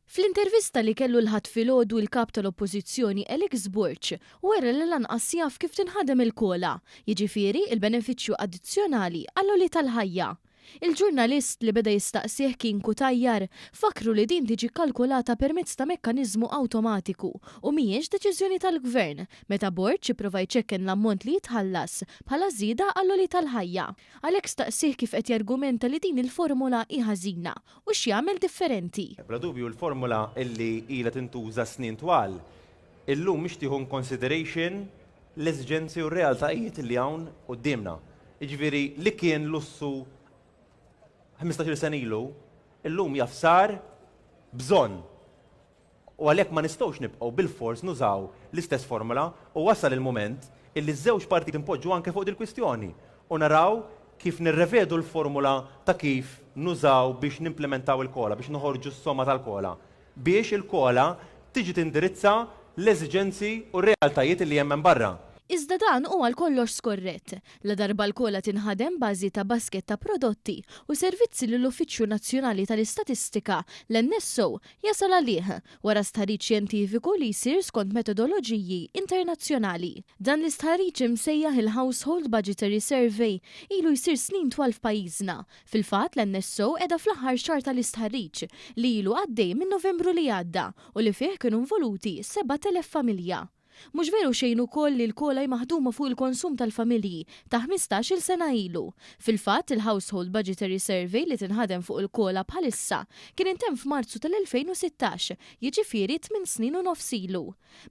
Fl-intervista li kellu l-Ħadd filgħodu l-Kap tal-Oppożizzjoni Alex Borg wera li lanqas jaf kif tinħadem il-COLA, jiġifieri l-benefiċċju addizzjonali għall-għoli tal-ħajja. Il-ġurnalist li beda jistaqsih kien Cutajar fakkru li din tiġi kkalkulata permezz ta' mekkaniżmu awtomatiku u mhijiex deċiżjoni tal-Gvern meta Borg ipprova jċekken l-ammont li jitħallas bħala żieda għall-għoli tal-ħajja. Alex staqsih kif qed jargumenta li din il-formula hi ħażina u x'jagħmel differenti. Bla dubju l-formula li ilha tintuża snin twal, illum mhix tieħu in consideration l-esiġenzi u r-realtajiet li hawn quddiemna. Jiġifieri li kien lussu ħmistax-il sena ilu, illum jaf sar bżonn. u għalhekk ma nistgħux nibqgħu bilfors nużaw l-istess formola u wasal il-mument illi ż-żewġ partijiet inpoġġu anke fuq dil-kwistjoni u naraw kif nirrevedu l-formula ta' kif nużaw biex nimplimentaw il-COLA, biex noħorġu s-somma tal-COLA, biex il-COLA tiġi tindirizza l-eżiġenzi u r-realtajiet illi hemm hemm barra. Iżda dan hu għal kollox skorrett, ladarba l-COLA tinħadem bażi ta' baskett ta' prodotti u servizzi li l-Uffiċċju Nazzjonali tal-Istatistika, l-NSO, jasal għalih wara stħarriġ xjentifiku li jsir skont metodoloġiji internazzjonali. Dan l-istħarriġ imsejjaħ il-Household Budgetary Survey ilu jsir snin twal f'pajjiżna. Fil-fatt, l-NSO qiegħda fl-aħħar xahar tal-istħarriġ, li ilu għaddej minn Novembru li għadda u li fih kienu involuti 7,000 familja. Mhux veru xejn ukoll li l-kola hi maħduma fuq il-konsum tal-familji ta' ħmistax-il sena ilu. Fil-fatt, il-Household Budgetary Survey li tinħadem fuq il-kola bħalissa kien intemm f'Marzu tal-2016, jiġifieri tmien snin u nofs ilu.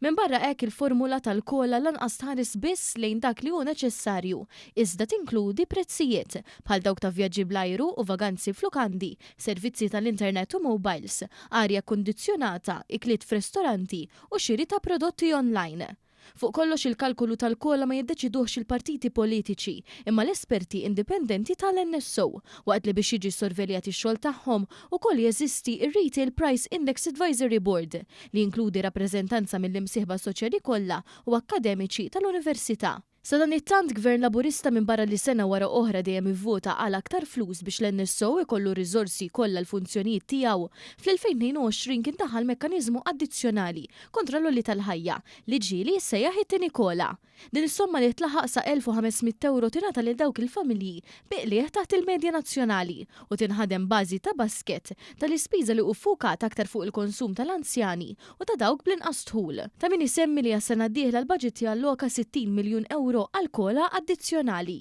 Minbarra hekk il-formula tal-kola lanqas tħares biss lejn dak li hu neċessarju, iżda tinkludi prezzijiet, bħal dawk ta' vjaġġi bl-ajru u vaganzi f'lukandi, servizzi tal-internet u mowbajls, arja kkundizzjonata, ikliet f'restoranti u xiri ta' prodotti online. Fuq kollox il-kalkolu tal-kola ma jiddeċiduhx il-partiti politiċi imma l-esperti indipendenti tal-NSO, waqt li biex jiġi ssorveljat ix-xogħol tagħhom ukoll jeżisti r-Retail Price Index Advisory Board li jinkludi rappreżentanza mill-imsieħba soċjali kollha u akkademiċi tal-Università. Sadanittant, Gvern Laburista minbarra li sena wara oħra dejjem ivvota għal aktar flus biex l-NSO ikollu r-riżorsi kollha l-funzjonijiet tiegħu, fl-2022 kien daħal mekkaniżmu addizzjonali kontra l-għoli tal-ħajja, li ġieli jissejjaħ it-tieni kola. Din is-somma li tlaħaq sa 1,500 ewro tingħata lil dawk il-familji bi qligħ taħt il-medja nazzjonali u tinħadem bażi ta' basket tal-ispiża li hu ffukat aktar fuq il-konsum tal-anzjani u ta' dawk bl-inqas dħul. Ta' min isemmi li għas-sena d-dieħla l-baġit jalloka 60 miljun ewro għal kola addizzjonali.